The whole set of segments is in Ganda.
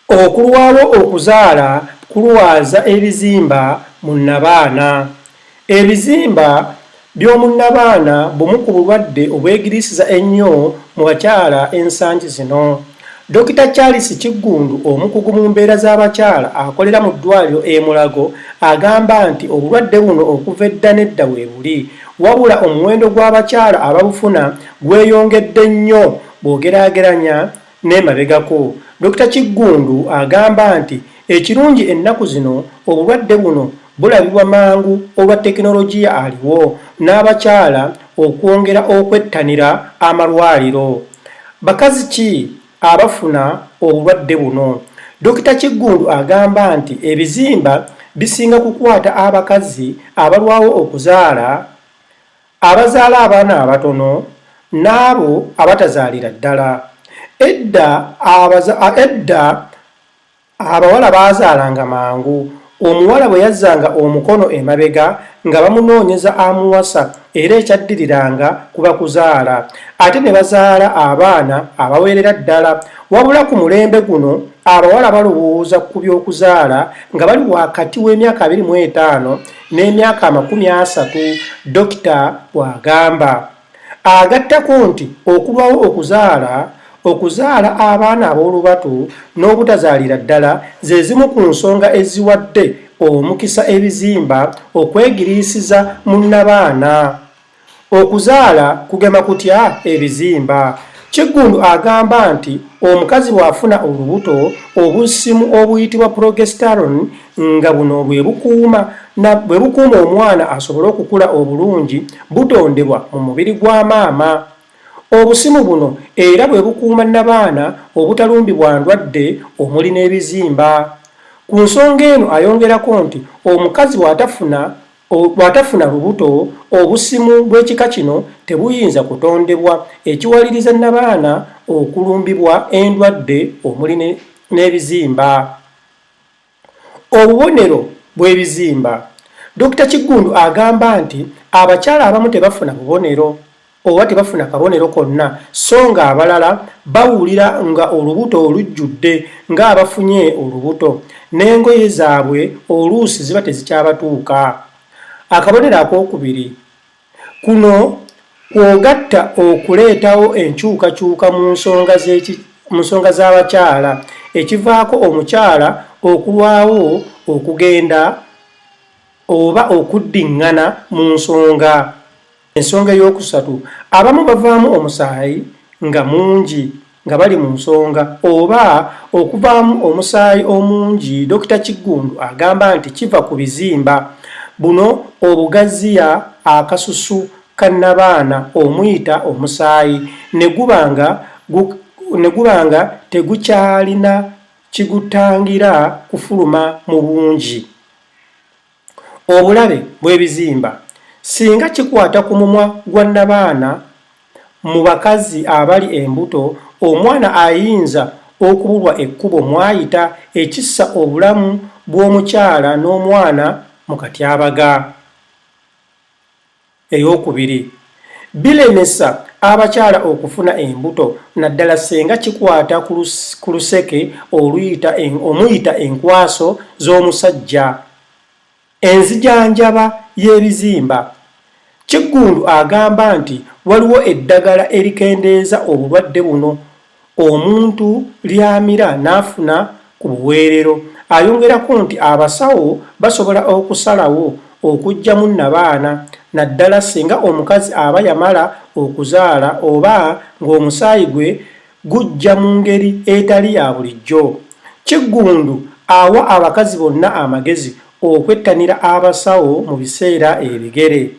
Okulwawo okuzaala kulwaza ebizimba mu nnabaana. Ebizimba by'omu nnabaana bumu ku bulwadde obwegiriisiza ennyo mu bakyala ensangi zino. Dokita Charles Kiggundu omukugu mu mbeera z'abakyala akolera mu ddwaaliro e Mulago agamba nti obulwadde buno okuva edda n'edda weebuli wabula omuwendo gw'abakyala ababufuna gweyongedde nnyo bw'ogeraageranya N'emabegako, Dokita Kiggundu agamba nti ekirungi ennaku zino obulwadde buno bulabibwa mangu olwa tekinologiya aliwo n'abakyala okwongera okwettanira amalwaliro. Bakazi ki abafuna obulwadde buno? Dokita Kiggundu agamba nti ebizimba bisinga kukwata abakazi abalwawo okuzaala abazaala abaana abatono n'abo abatazaalira ddala. Edda edda abawala baazaalanga mangu. Omuwala bwe yazzanga omukono emabega nga bamunoonyeza amuwasa era ekyaddiriranga kuba kuzaala ate ne bazaala abaana abaweerera ddala. Wabula ku mulembe guno abawala balowooza ku by'okuzaala nga bali wakati w'emyaka abiri mu etaano n'emyaka amakumi asatu, dokita bw'agamba. Agattako nti okulwawo okuzaala, okuzaala abaana ab'olubatu n'obutazaalira ddala ze zimu ku nsonga eziwadde omukisa ebizimba okwegiriisiza mu nnabaana. Okuzaala kugema kutya ebizimba? Kiggundu agamba nti omukazi bw'afuna olubuto, obusimu obuyitibwa progesterone nga buno bwe bukuuma na bwe bukuuma omwana asobole okukula obulungi butondebwa mu mubiri gwa maama. Obusimu buno era bwe bukuuma nnabaana obutalumbibwa ndwadde omuli n'ebizimba. Ku nsonga eno ayongerako nti omukazi bw'atafuna Bw'atafuna lubuto, obusimu bw'ekika kino tebuyinza kutondebwa, ekiwaliriza nnabaana okulumbibwa endwadde omuli n'ebizimba. Obubonero bw'ebizimba. Dokita Kiggundu agamba nti abakyala abamu tebafuna bubonero. oba tebafuna kabonero konna so nga abalala bawulira nga olubuto olujjudde ng'abafunye olubuto n'engoye zaabwe oluusi ziba tezikyabatuuka akabonero ak'okubiri kuno kwogatta okuleetawo enkyukakyuka mu nsonga z'eki mu nsonga z'abakyala ekivaako omukyala okulwawo okugenda oba okuddiŋŋana mu nsonga Ensonga ey'okusatu, abamu bavaamu omusaayi nga mungi nga bali mu nsonga oba okuvaamu omusaayi omungi. Dokita Kiggundu agamba nti kiva ku bizimba buno obugaziya akasusu ka nnabaana omuyita omusaayi ne guba nga ne guba nga tegukyalina kigutangira kufuluma mu bungi. obulabe bw'ebizimba singa kikwata ku mumwa gwa nnabaana, mu bakazi abali embuto omwana ayinza okubulwa ekkubo mw'ayita ekissa obulamu bw'omukyala n'omwana mu katyabaga. Ey'okubiri, bilemesa abakyala okufuna embuto naddala ssenga kikwata ku luseke oluyita omuyita enkwaso z'omusajja. Enzijanjaba y'ebizimba. Kiggundu agamba nti waliwo eddagala erikendeeza obulwadde buno. omuntu ly'amira n'afuna ku buweerero. Ayongerako nti abasawo basobola okusalawo okuggyamu nnabaana naddala singa omukazi aba yamala okuzaala oba ng'omusaayi gwe gujja mu ngeri etali ya bulijjo. Kiggundu awa abakazi bonna amagezi okwettanira abasawo mu biseera ebigere.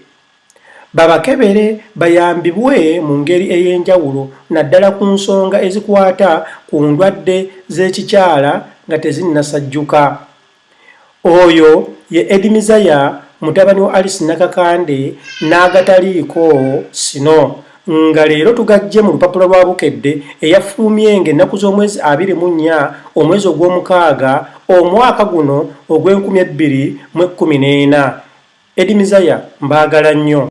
babakebere bayambibwe mu ngeri ey'enjawulo naddala ku nsonga ezikwata ku ndwadde z'ekikyala nga tezinnasajjuka. Oyo ye Edmizaya mutabani wa Alice Nakakande n'agataliiko sino. nga leero tugajje mu lupapula lwa Bukedde eyafulumye ng'ennaku z'omwezi abiri mu nnya omwezi ogw'omukaaga omwaka guno ogw'enkumi ebbiri mu ekkumi n'ena. Eddy Mizaya mbaagala nnyo.